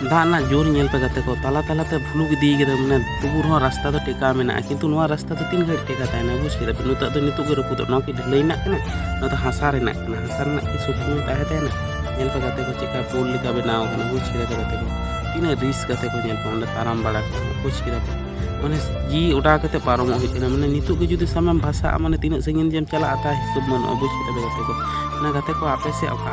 ᱫᱟᱜ ᱨᱮᱱᱟᱜ ᱡᱳᱨ ᱧᱮᱞ ᱯᱮ ᱜᱟᱛᱮ ᱠᱚ ᱛᱟᱞᱟ ᱛᱟᱞᱟᱛᱮ ᱵᱷᱩᱞᱩᱠ ᱤᱫᱤ ᱠᱟᱫᱟ ᱢᱟᱱᱮ ᱛᱩᱵᱩ ᱨᱮᱦᱚᱸ ᱨᱟᱥᱛᱟ ᱫᱚ ᱴᱮᱠᱟᱣ ᱢᱮᱱᱟᱜᱼᱟ ᱠᱤᱱᱛᱩ ᱱᱚᱣᱟ ᱨᱟᱥᱛᱟ ᱫᱚ ᱛᱤᱱ ᱜᱷᱟᱹᱲᱤᱡ ᱴᱮᱠᱟ ᱛᱟᱦᱮᱱᱟ ᱵᱩᱡᱽ ᱠᱮᱫᱟ ᱯᱮ ᱱᱤᱛᱚᱜ ᱫᱚ ᱱᱤᱛᱚᱜ ᱜᱮ ᱨᱟᱹᱯᱩᱫᱚᱜ ᱱᱚᱣᱟ ᱠᱤ ᱰᱷᱟᱹᱞᱟᱹᱭ ᱨᱮᱱᱟᱜ ᱠᱟᱱᱟ ᱱᱚᱣᱟ ᱫᱚ ᱦᱟᱥᱟ ᱨᱮᱱᱟᱜ ᱠᱟᱱᱟ ᱦᱟᱥᱟ ᱨᱮᱱᱟᱜ ᱠᱤ ᱥᱩᱠᱩᱱ ᱛᱟᱦᱮᱸ ᱛᱟᱦᱮᱱᱟ ᱧᱮᱞ ᱯᱮ ᱜᱟᱛᱮ ᱠᱚ ᱪᱮᱫᱠᱟ ᱯᱳᱞ ᱞᱮᱠᱟ ᱵᱮᱱᱟᱣ ᱠᱟᱱᱟ ᱵᱩᱡᱽ ᱠᱮᱫᱟ ᱯᱮ ᱜᱟᱛᱮ ᱠᱚ ᱛᱤᱱᱟᱹᱜ ᱨᱤᱥ ᱜᱟᱛᱮ ᱠᱚ ᱧᱮᱞ ᱯᱮ ᱚᱸᱰᱮ ᱛᱟᱲᱟᱢ ᱵᱟᱲᱟ ᱠᱚ ᱵᱩᱡᱽ ᱠᱮᱫᱟ ᱯᱮ ᱢᱟᱱᱮ ᱡᱤ ᱚᱰᱟᱣ ᱠᱟᱛᱮ ᱯᱟᱨᱚᱢᱚᱜ ᱦᱩᱭᱩᱜ ᱠᱟᱱᱟ ᱢᱟᱱᱮ ᱱᱤᱛᱚᱜ ᱜᱮ ᱡᱩᱫᱤ ᱥᱟᱢᱮᱢ ᱵᱷᱟᱥᱟᱜᱼᱟ ᱢᱟᱱᱮ ᱛᱤᱱᱟᱹᱜ ᱥᱟᱺᱜᱤᱧ ᱡᱮᱢ ᱪᱟᱞᱟᱜᱼᱟ ᱛᱟ ᱦᱤᱥᱟᱹᱵ ᱵᱟᱹᱱᱩᱜᱼᱟ ᱵᱩᱡᱽ ᱠᱮᱫᱟ ᱯᱮ ᱜᱟᱛᱮ ᱠᱚ ᱚᱱᱟ ᱜᱟᱛᱮ ᱠᱚ ᱟᱯᱮ ᱥᱮᱫ ᱚᱠᱟ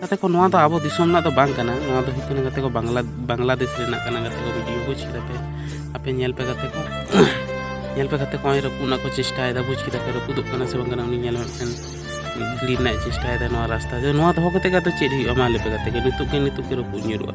ᱜᱟᱛᱮ ᱠᱚ ᱱᱚᱣᱟ ᱫᱚ ᱟᱵᱚ ᱫᱤᱥᱚᱢ ᱨᱮᱱᱟᱜ ᱫᱚ ᱵᱟᱝ ᱠᱟᱱᱟ ᱱᱚᱣᱟ ᱫᱚ ᱦᱩᱭᱩᱜ ᱠᱟᱱᱟ ᱜᱟᱛᱮ ᱠᱚ ᱵᱟᱝᱞᱟ ᱵᱟᱝᱞᱟᱫᱮᱥ ᱨᱮᱱᱟᱜ ᱠᱟᱱᱟ ᱜᱟᱛᱮ ᱠᱚ ᱵᱷᱤᱰᱤᱭᱳ ᱵᱩᱡᱽ ᱠᱮᱫᱟ ᱯᱮ ᱟᱯᱮ ᱧᱮᱞ ᱯᱮ ᱜᱟᱛᱮ ᱠᱚ ᱧᱮᱞ ᱯᱮ ᱜᱟᱛᱮ ᱠᱚ ᱱᱚᱜᱼᱚᱭ ᱨᱟᱹᱯᱩᱫ ᱨᱮᱱᱟᱜ ᱠᱚ ᱪᱮᱥᱴᱟᱭᱮᱫᱟ ᱵᱩᱡᱽ ᱠᱮᱫᱟ ᱯᱮ ᱨᱟᱹᱯᱩᱫᱚᱜ ᱠᱟᱱᱟ ᱥᱮ ᱵᱟᱝ ᱠᱟᱱᱟ ᱩᱱᱤ ᱧᱮᱞ ᱢᱤᱫᱴᱮᱱ ᱜᱤᱲᱤ ᱨᱮᱱᱟᱜ ᱪᱮᱥᱴᱟᱭᱮᱫᱟ ᱱᱚᱣᱟ ᱨᱟᱥᱛᱟ ᱨᱮ ᱱᱚᱣᱟ ᱫᱚᱦᱚ ᱠᱟᱛᱮ ᱜᱮ ᱟᱫᱚ ᱪᱮᱫ ᱦᱩᱭᱩᱜᱼᱟ ᱢᱟ ᱞᱟᱹᱭ ᱯᱮ ᱜᱟᱛᱮ ᱠᱚ ᱱᱤᱛᱚᱜ ᱜᱮ ᱱᱤᱛᱚᱜ ᱜᱮ ᱨᱟᱹᱯᱩᱫ ᱧᱩᱨᱩᱜᱼᱟ